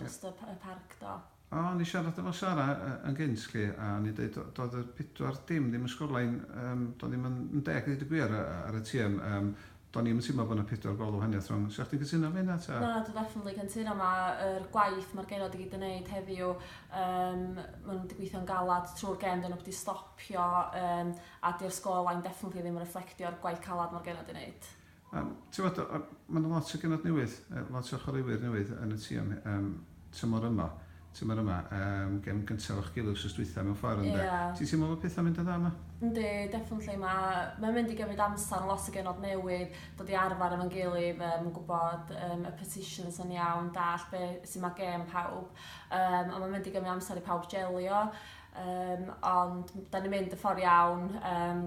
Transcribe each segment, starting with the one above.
Jyst y y parc do. O o'n i siarad efo Sara yy yn gynt 'lly a o'n i'n deud do- doedd y pedwar dim ddim yn sgorlein yym do'n i'm yn yn deg i ddeud y gwir yy ar y tîm yym do'n i 'im yn teimlo bo' 'na pedwar gol o wahaniath rhwng. 'Sa chdi'n cytuno efo hynna ta? Na dwi definately cytuno ma' yr gwaith ma'r genod i gyd yn neud heddiw yym ma' n'w 'di gweithio'n galad trw'r gêm 'dyn n'w 'eb 'di stopio yym a 'di'r sgorlein definately ddim yn refflectio'r gwaith calad ma'r genod 'di neud. Yym, ti'n gwbod, yy, ma' 'na lot o genod newydd, yy, lot o chwaraewyr newydd yn y tîm, yym, tymor yma, tymor yma, yym, gem gyntaf efo'ch gilydd wsos dwytha mewn ffordd ynde? Ie. Ti'n teimlo fod pethau'n mynd yn dda 'ma? Yndi, definitely, ma' mae'n mynd i gymryd amser, ma' lot o genod newydd, dod i arfar efo'n gilydd, yym, gwbod yym y positions yn iawn, dallt be' su' ma' gêm pawb, yym, a ma'n mynd i gymryd amser i pawb jelio, yym, ond m- 'dan ni'n mynd y ffor iawn, yym,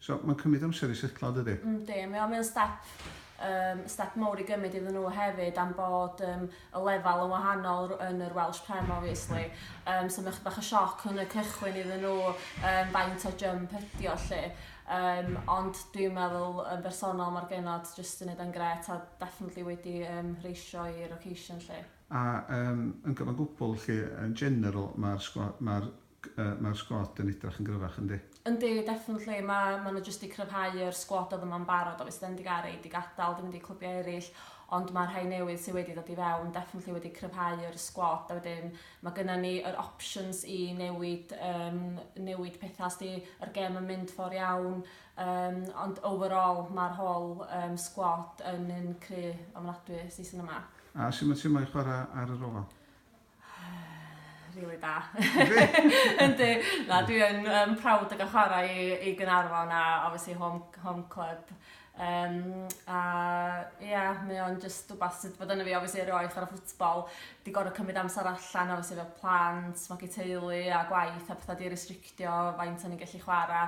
So mae'n cymryd amser i setlo yn dydi? Yndi, mae o'n mae o'n step yym step mowr i gymryd iddyn nhw hefyd am bod yym y lefel yn wahanol r- yn yr Welsh Prem obviously. Yym so mae chydig bach o sioc yn y cychwyn iddyn nhw yym faint o jump ydi o lle. Yym ond dwi'n meddwl yn bersonol mae'r genod jyst yn neud o'n gret a definitely wedi yym reisio i'r occasion lle. A yym yn gyfan gwbl lle yn general mae'r sgwa- mae'r Yy mae'r sgwad yn edrach yn gryfach yndi? Yndi definitely ma ma n'w jyst di cryfhau yr sgwad o'dd yma'n barod obviously 'da ni 'di ga'l rei 'di gadal 'di mynd i clybiau eryll ond ma' rhai newydd sy wedi ddod i fewn definitely wedi cryfhau yr sgwad a wedyn ma' gynna ni yr options i newid yym newid petha os 'di yr gem yn mynd for iawn yym ond overall ma'r whole yym sgwad yn un cry ofnadwy season yma. A su' ma' ti'm mo'i chwara ar yr ofal? rili da. Yndi. Na, dwi yn um, proud o gael chwarae i, i Gynarfon a obviously home, home club. Um, a ie, yeah, mae o'n just rhywbeth sydd bod yna fi, obviously, erioed chwarae ffwtbol. Di gorau cymryd amser allan, obviously, fel plant, magu teulu a gwaith a pethau di restrictio faint o'n i'n gallu chwarae.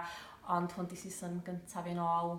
Ond hwn di season gyntaf fi'n ôl